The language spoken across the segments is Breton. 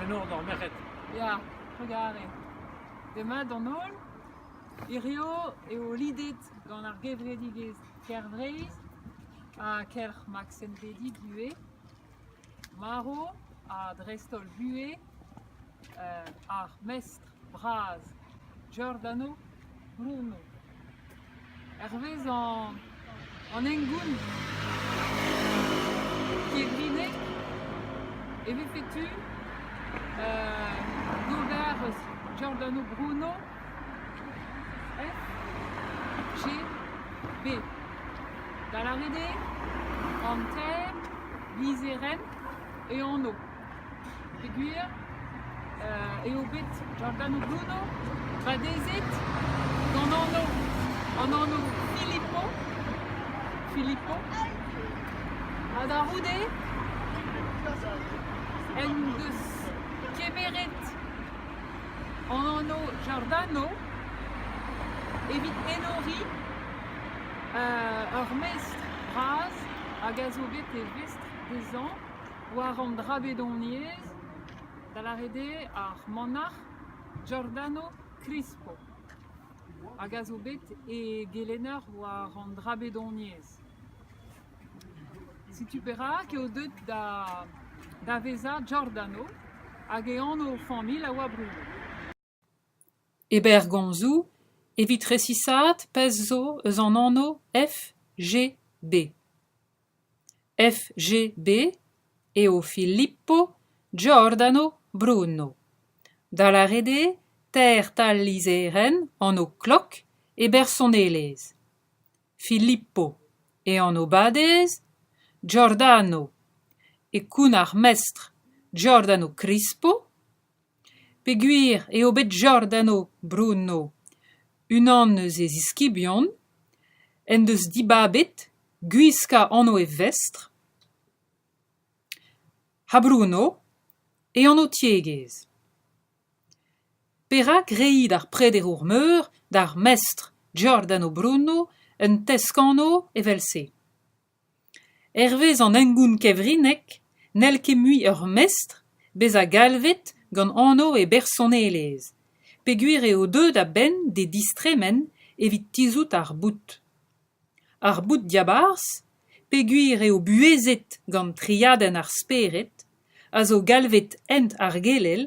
Enor d'ar merc'hed. Ya, trugarez. Demat d'an holl. Hirio eo lidet gant ar gevredigezh Kervreizh ha kelc'h Max Entebbe buhez. Marv ha dreist-holl buhez ar mestr bras, Giordano Bruno. Hervezañ an hengoun kevrinne e vefe tu d'ober eus Giordano Bruno FGB, da lâret eo an Ter lizherenn e anv. Peogwir eo bet Giordano Bruno badezet gant anv an anv Filippo Filippo ha da c'houde en deus kemeret an anv Giordano evit enoriñ ur mestr bras hag a zo bet e vestr dezhañ. War an dra bedoniezh, da lâret eo ar manac'h Giordano Crispo hag a zo bet e gelenner war an dra bedoniezh. Setu perak eo deuet da da vezañ Giordano hag e anv familh a oa brudet. E berrgomzoù, evit resisaat pezh zo eus an anv FGB. FGB eo Filippo Giordano Bruno, da lâret eo teir tal-lizherenn anv klok e bersonelezh. Filippo e anv-badez, Giordano e kounnar mestr Giordano Crispo. Peogwir eo bet Giordano Bruno, unan eus e ziskibion, en deus dibabet gwiskañ anv e vestr, ha Bruno e anv-tiegezh. Perak reiñ d'ar prederour meur d'ar mestr Giordano Bruno un tesk-anv evel-se ? Hervez an hengoun kevrinnek n'hell ket mui ur mestr bezañ galvet gant anv e bersonelezh, peogwir eo deuet a-benn d'e distremen evit tizhout ar boud. Ar boud-diabarzh, peogwir eo buhezet gant triadenn ar spered, a zo galvet hent ar gelel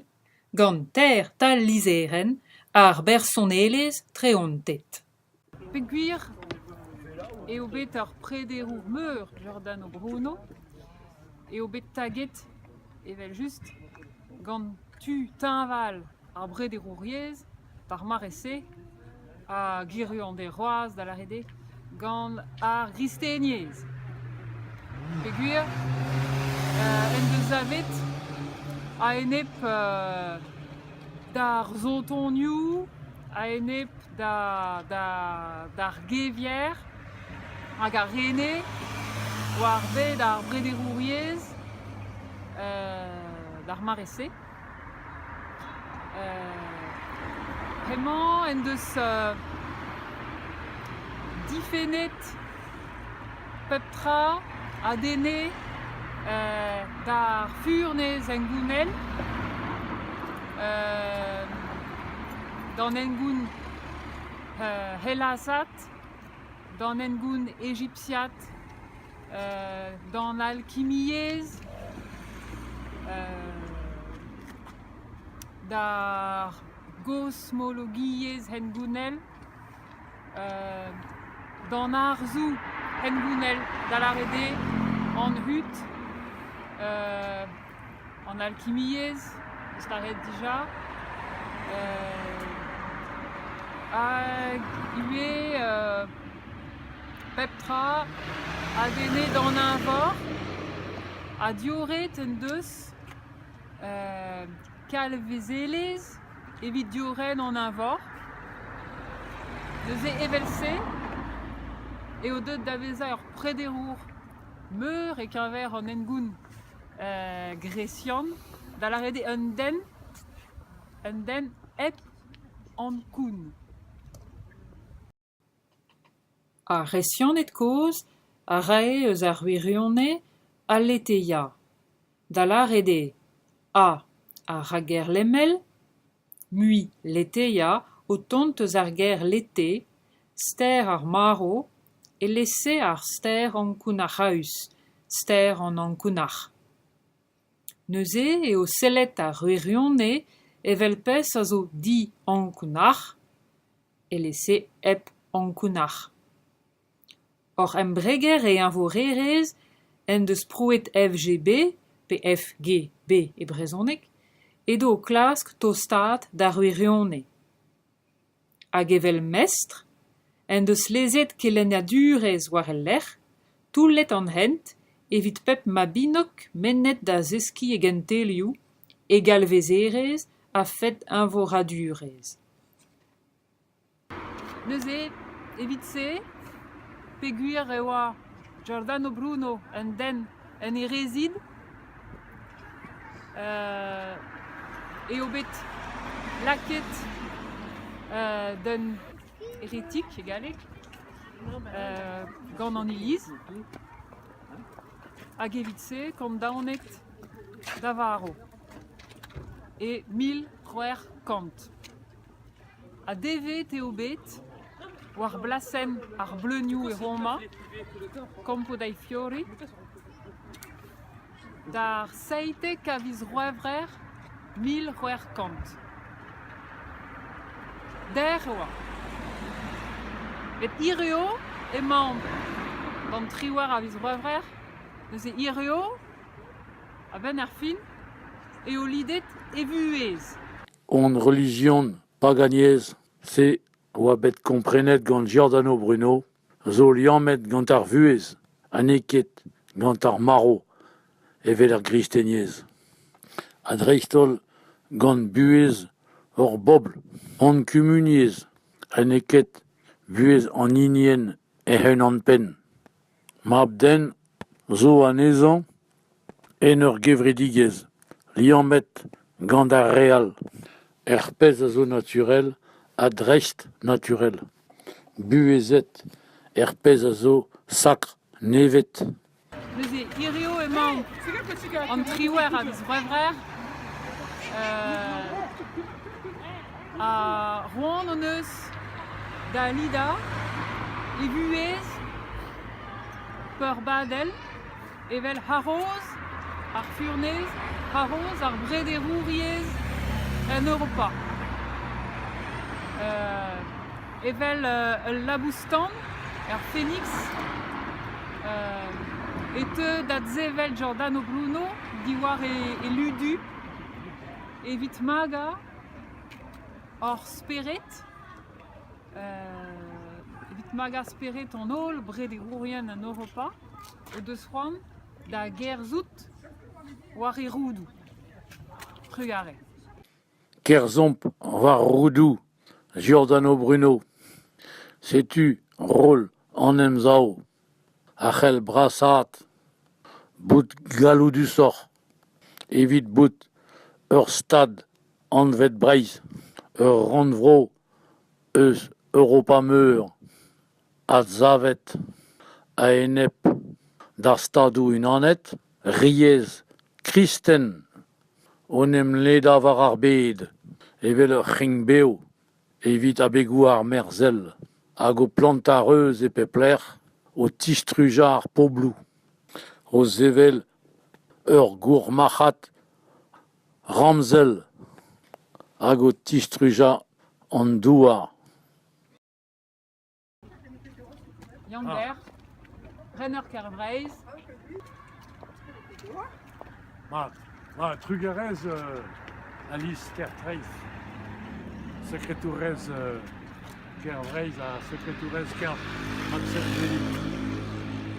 gant teir tal-lizherenn ar bersonelezh treantet. Peogwir eo bet ur prederour meur Giordano Bruno eo bet taget evel-just gant tu teñval ar brederouriezh d'ar mare-se ha gwirion d'e roaz da lâret eo gant ar gristeniezh. Peogwir en deus savet a-enep d'ar sotonioù a-enep d'ar gevier hag ar rene war bed ar brederouriezh d'ar mare-se. Hemañ en deus difennet pep tra a denne d'ar furnez hengounel, d'an hengoun helasat, d'an hengoun ejipsiat, d'an alkimiezh, d'ar gosmologiezh hengounel. D'an arzoù hengounel, da lâret eo an hud, an alkimiezh, eus lâret dija, hag ivez pep tra a venne d'an eñvor, ha diorret en deus Kalvezelezh evit diorren an eñvor. Neuze evel-se eo deuet da vezañ ur prederour meur e-keñver an hengoun gresian, da lâret eo un den, un den hep ankoun. Ar C'hresianed kozh a rae eus ar wirionez Aletheia, da lâret eo ha ar rakger lemel mui Letheia o tont eus ar ger lethe, ster ar marv, e-lese ar ster ankounac'haus, ster an ankounac'h. Neuze eo sellet ar wirionez evel pezh a zo diankounac'h. Elese hep ankounac'h. Hor embreger e eñvorerezh en deus prouet FGB pe FGB e brezhoneg edo o klask tostaat d'ar wirionez. Hag evel mestr en deus lezet kelennadurezh war e lerc'h, toullet an hent evit pep mabinok mennet da zeskiñ e gentelioù, e galvezerezh a-fed eñvoradurezh. Neuze, evit-se, peogwir e oa Giordano Bruno un den en e rezid, eo bet lakaet d'un heretik e galleg gant an iliz hag evit-se, kant daonet da varv. e mil c'hwec'h kant. Ha devet eo bet, war blasenn ar bleunioù e Roma, Campo dei Fiori, d'ar seitek a viz C'hwevrer mil c'hwec'h kant. Dec'h e oa. Met hiziv emaomp gant triwec'h a viz C'hwevrer neuze hiziv A-benn ar fin eo lidet e vuhez. Hon relijion paganiezh-se a oa bet komprenet gant Giordano Bruno zo liammet gant ar vuhez ha n'eo ket gant ar marv evel er gristeniezh ha dreist-holl gant buhez hor bobl. Hon kumuniezh ha n'eo ket buhez an hinienn hec'h-unan-penn. Mab-den zo anezhañ en ur gevredigezh liammet gant ar re all, er pezh a zo naturel ha dreist-naturel, buhezet er pezh a zo sakr nevet. Neuze hiziv emañ an triwec'h a viz C'hwevrer. Ha c'hoant hon eus da lidañ e vuhez peurbadel evel haroz ar furnez, haroz ar brederouriezh en Europa. Euh, evel euh, ul labous-tan er Phoenix euh, e teu da zevel Giordano Bruno diwar e, e ludu evit magañ Hor spered, evit magañ spered an holl brederourien en Europa o deus c'hoant da gerzhout war e roudoù. Trugarez. Kerzhomp war roudoù Giordano Bruno. Setu roll an Emsav. a c'hell brasaat bout galloudusoc'h evit bout ur stad anvet Breizh ur rannvro eus Europa Meur adsavet a-enep d'ar Stadoù-Unanet riez kristen o em ledañ war ar bed evel ur c'hring-bev evit abegoù armerzhel hag o plantañ reuz e pep lec'h, o tistrujañ ar pobloù, o sevel ur gourmarc'had ramzel hag o tistrujañ an douar. Yann-Ber, rener Kêr-Vreizh. Mat, mat, trugarez Alis Kerkreiz, sekretourez Kêr-Vreizh ha sekretourez Kêr Maksimili.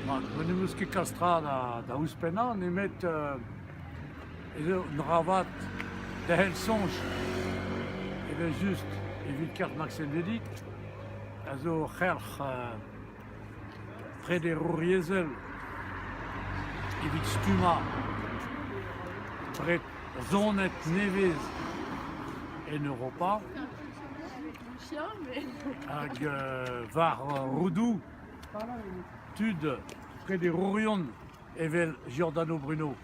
Mat, ma n'em eus ket kalz tra da ouzhpennañ nemet ez eo un dra vat derc'hel soñj evel-just evit Kêr Maksimili. a zo ur c'helc'h prederouriezhel evit stummañ bred zoned nevez en Europa hag war roudoù tud prederourion. evel Giordano Bruno.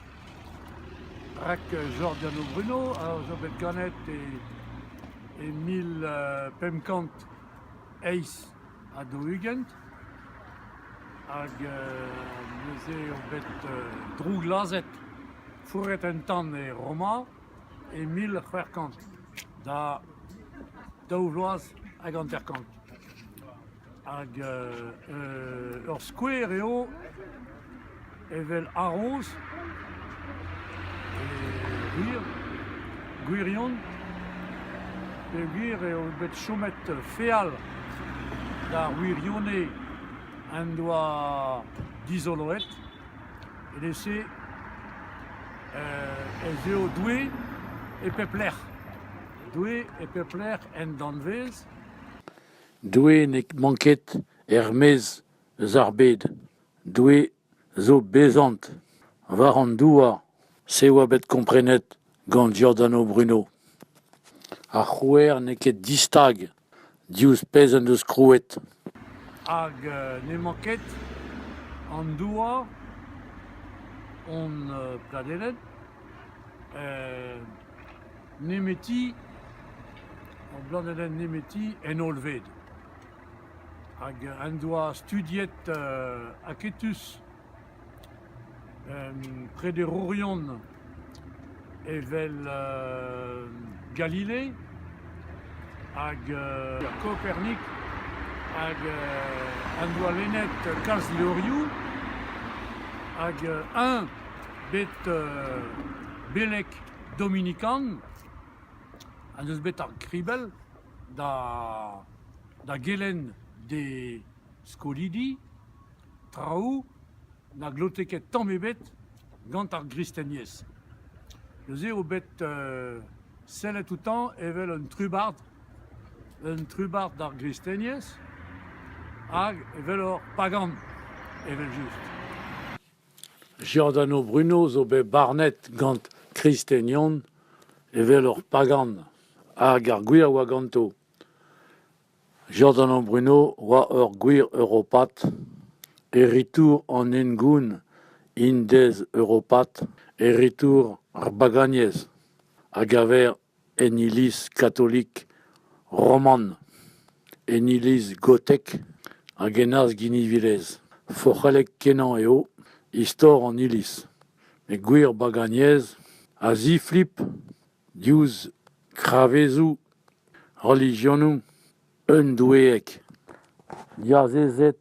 Rak Giordano Bruno a zo bet ganet e, e mil pemp kant eizh ha daou-ugent. Hag neuze eo bet drouglazhet, fourret un tamm e Roma e mil c'hwec'h kant, da daou vloaz hag hanter-kant. Hag ur skouer eo evel haroz, gwir, gwirion, peogwir eo bet chomet feal d'ar wirionez en doa dizoloet, evel-se ez eo Doue e pep lec'h. Doue e pep lec'h en danvez. Doue ne mank ket er-maez eus ar bed, Doue zo bezant war an douar, se oa bet komprenet gant Giordano Bruno. Ar c'hrouer n'eo ket distag diouzh pezh en deus krouet. Hag n'emañ ket an douar hon pladened nemeti, ur blanedenn nemeti en hollved hag en doa studiet aketus prederourion evel Galilée hag Kopernik hag en doa lennet kalz levrioù hag eñ bet beleg dominikan en deus bet ar gribell da da gelenn d'e skolidi traoù na glote ket tamm ebet gant ar gristeniezh. Neuze eo bet sellet outañ evel un trubard un trubard d'ar gristeniezh hag evel ur pagan evel-just. Giordano Bruno zo bet barnet gant kristenion evel ur pagan hag ar gwir a oa ganto. Giordano Bruno oa ur gwir europat, e ritour an hengoun indez-europat, e ritour ar bagagnez, a gaver en iliz katolik roman, en iliz gotek hag en arz-ginivelezh. Forc'hellek-kenañ eo istor an iliz, met gwir baganiezh a ziflip diouzh kravezoù relijionoù un doueeg diazezet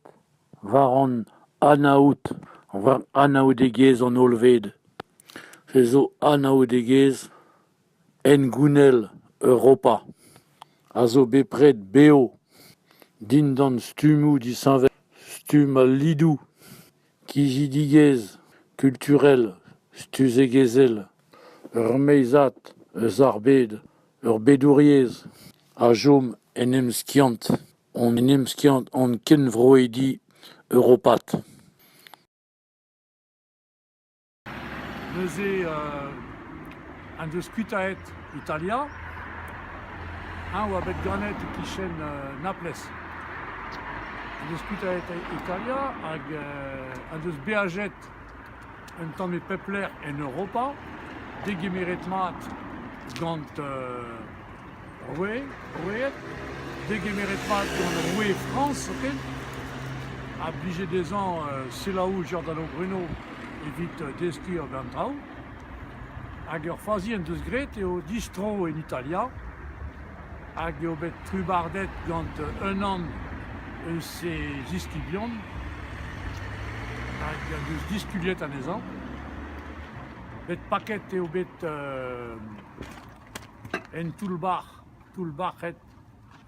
war an anaoud, war anaoudegezh an hollved. Se zo anaoudegezh Hengounel Europa a zo bepred bev dindan stummoù disheñvel, stumm al lidoù, kizidigezh kulturel, stuzegezhel, ur meizad eus ar bed, ur bedouriezh a chom en emskiant hon emskiant hon kenvroidi europat. Neuze en deus kuitaet Italia. Eñ 'oa bet ganet e-kichen Naplez. En deus kuitaet Italia hag en deus beajet un tamm e pep lec'h en Europa, degemeret mat gant Oui, roet, degemeret mat gant roue Frañs zoken, a blije dezhañ selaou Giordano Bruno evit deskiñ ober an traoù. Hag ur fazi en deus graet eo distro en Italia hag eo bet trubardet gant unan eus he ziskibion hag en deus diskuliet anezhañ. Bet paket eo bet En toull-bac'h, toull-bac'hed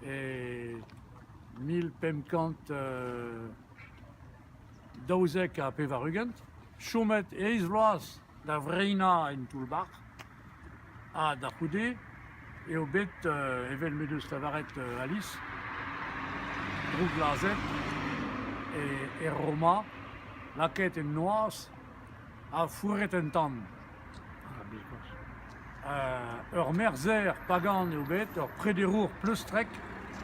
e mil pemp kant daouzek ha pevar-ugent, chomet eizh vloaz da vreinañ en toull-bac'h ha da c'houde eo bet, evel m'en deus lavaret Alis, drouklazhet e Roma, lakaet en noazh Ha fourret un tamm. Ah, biskoazh. Euh, ur merzher pagan eo bet, ur prederour pleustrek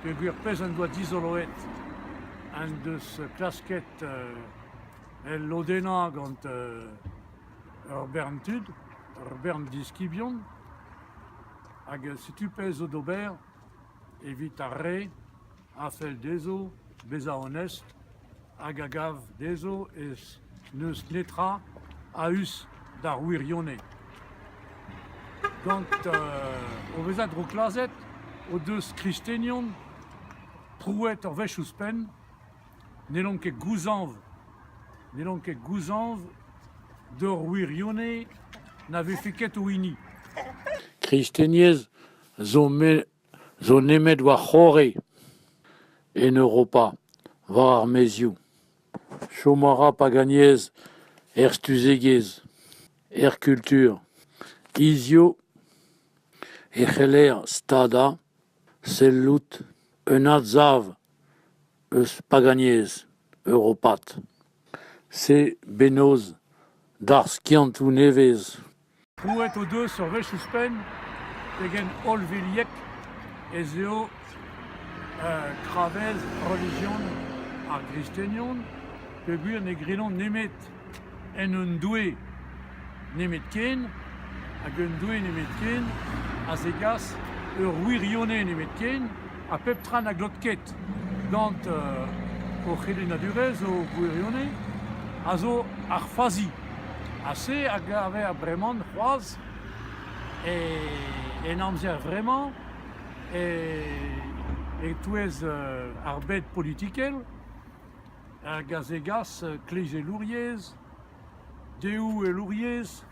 peogwir pezh en doa dizoloet en deus klasket euh, el lodennañ gant euh, ur bern tud, ur bern diskibion. Hag setu pezh zo d'ober evit ar re a fell dezho bezañ onest hag a gav dezho ez n'eus netra a-us d'ar wirionez. Gant o vezañ drouklazhet o deus kristenion prouet ur wech ouzhpenn n'hellont ket gouzañv n'hellont ket gouzañv d'ur wirionez na vefe ket o hini. Kristeniezh zo zo nemet war c'horre en Europa, war ar maezioù. Chom a ra pag anyezh er stuzegezh, er kultur, hiziv e c'heller stadañ, sellout un adsav eus pag anyezh europat. Se bennozh d'ar skiantoù nevez. Krouet o deus ur wech ouzhpenn pegen hollviliek ez eo gravez relijion ar gristenion peogwir ne grillont nemet en un doue. nemetken, hag un doue nemetken, a zegas ur wirionez nemetken, ha pep tra na glot ket gant o c'helennadurezh, o gwirionez, a zo ar fazi. Ha se a gaver bremañ c'hoazh en amzer-vremañ e-touez ar bed politikel, hag a zegas kleizelouriezh Deohelouriezh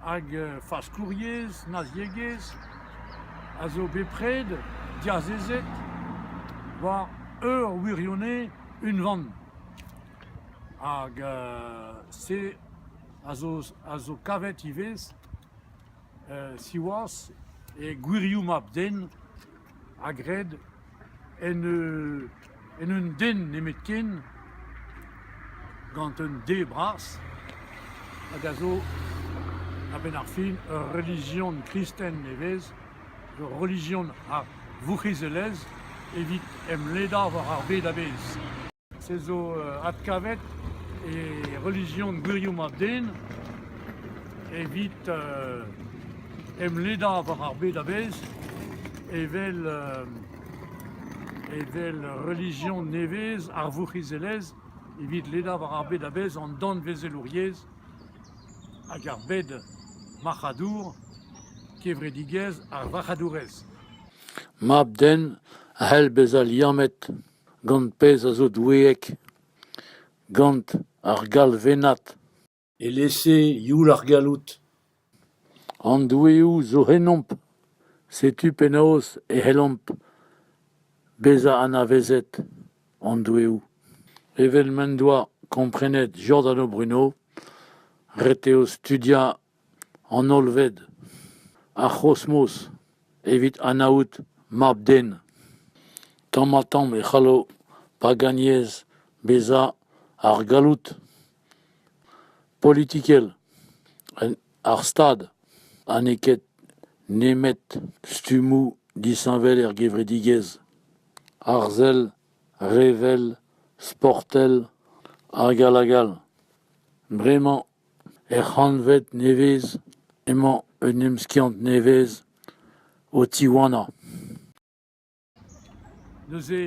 hag faskouriezh, naziegezh a zo bepred diazezet war ur wirionez unvan hag se a zo kavet ivez siwazh e gwirioù mab-den a gred en un den nemetken, gant un D bras, hag a zo a-benn ar fin ur relijion kristen e vez, ur relijion a vourc'hizelezh evit emledañ war ar bed a-bezh. se zo adkavet e relijion gwirioù mab-den evit emledañ war ar bed a-bezh evel evel relijion nevez ar vourc'hizelezh evit ledañ war ar bed a-bezh an danvezelouriezh hag ar bed marc'hadour kevredigezh ar varc'hadourezh. Mab-den a c'hell bezañ liammet Gant pezh a zo doueek, gant ar galvennad. Elese youl ar galloud. An doueoù zo ennomp, setu penaos e c'hellomp bezañ anavezet an doueoù. Evel m'en doa komprenet Jordan Bruno, ret eo studiañ an hollved, ar c'hosmos evit anaout mab-den. Tamm-ha-tamm e c'hallo paganiezh bezañ ar galloud politikel en ar Stad ha n'eo ket nemet stummoù disheñvel er gevredigezh, arzel, revel, sportel hag all hag all. Bremañ Er c'hantved nevez emañ un emskiant nevez o tiwanañ. Neuze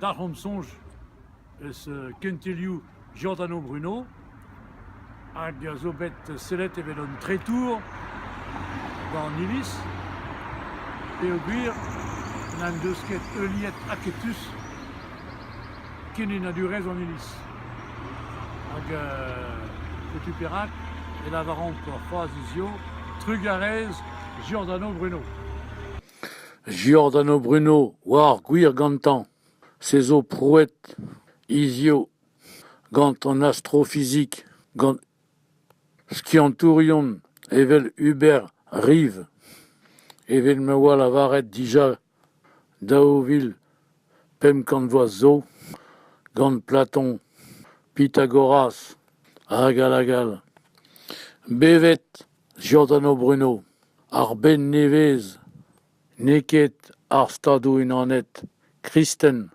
dalc'homp soñj eus kentelioù Giordano Bruno hag a zo bet sellet evel un tretour bañ an iliz peogwir n'en deus ket heuliet aketus Kenenadurezh an Iliz. Hag setu perak e lavaran c'hoazh hiziv trugarez Giordano Bruno. Giordano Bruno oa ar gwir gantañ. Se zo prouet hiziv gant an astrofizik, gant skiantourion evel Hubert Rive, evel ma oa lavaret dija Daou vil pemp kant vloaz zo, gant Platon, Pythagoras hag all hag all. Bevet Giordano Bruno, ar benn nevez n'eo ket ar Stadoù-Unanet kristen.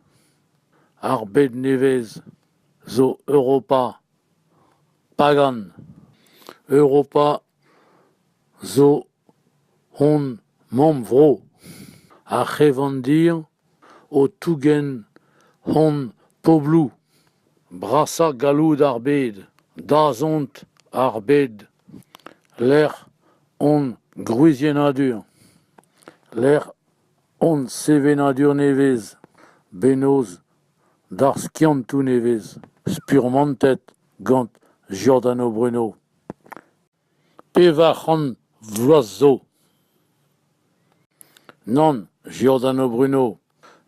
Ar bed nevez zo Europa pagan. Europa zo hon mamm-vro, ar c'hevandir o tougen hon pobloù, brasañ galloud ar bed, dazont ar bed, lec'h hon gwriziennadur, lec'h hon sevenadur nevez, bennozh d'ar skiantoù nevez, spurmantet gant Giordano Bruno. Pevar c'hant vloaz zo. Nann, Giordano Bruno,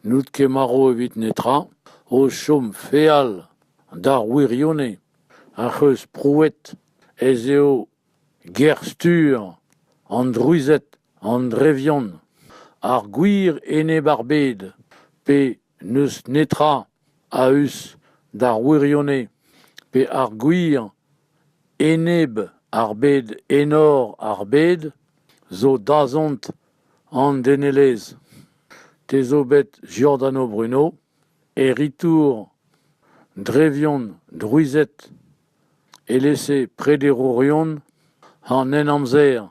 n'out ket marv evit netra, o chom feal d'ar wirionez ac'h eus prouet ez eo ger-stur an Druzhed an Drevion, ar gwir enep ar bed, pe n'eus netra a-us d'ar wirionez pe ar gwir enep ar bed enor ar bed zo dazont an denelezh. Te zo bet Giordano Bruno, heritour drevion drouized, elese prederourion an Henamzer.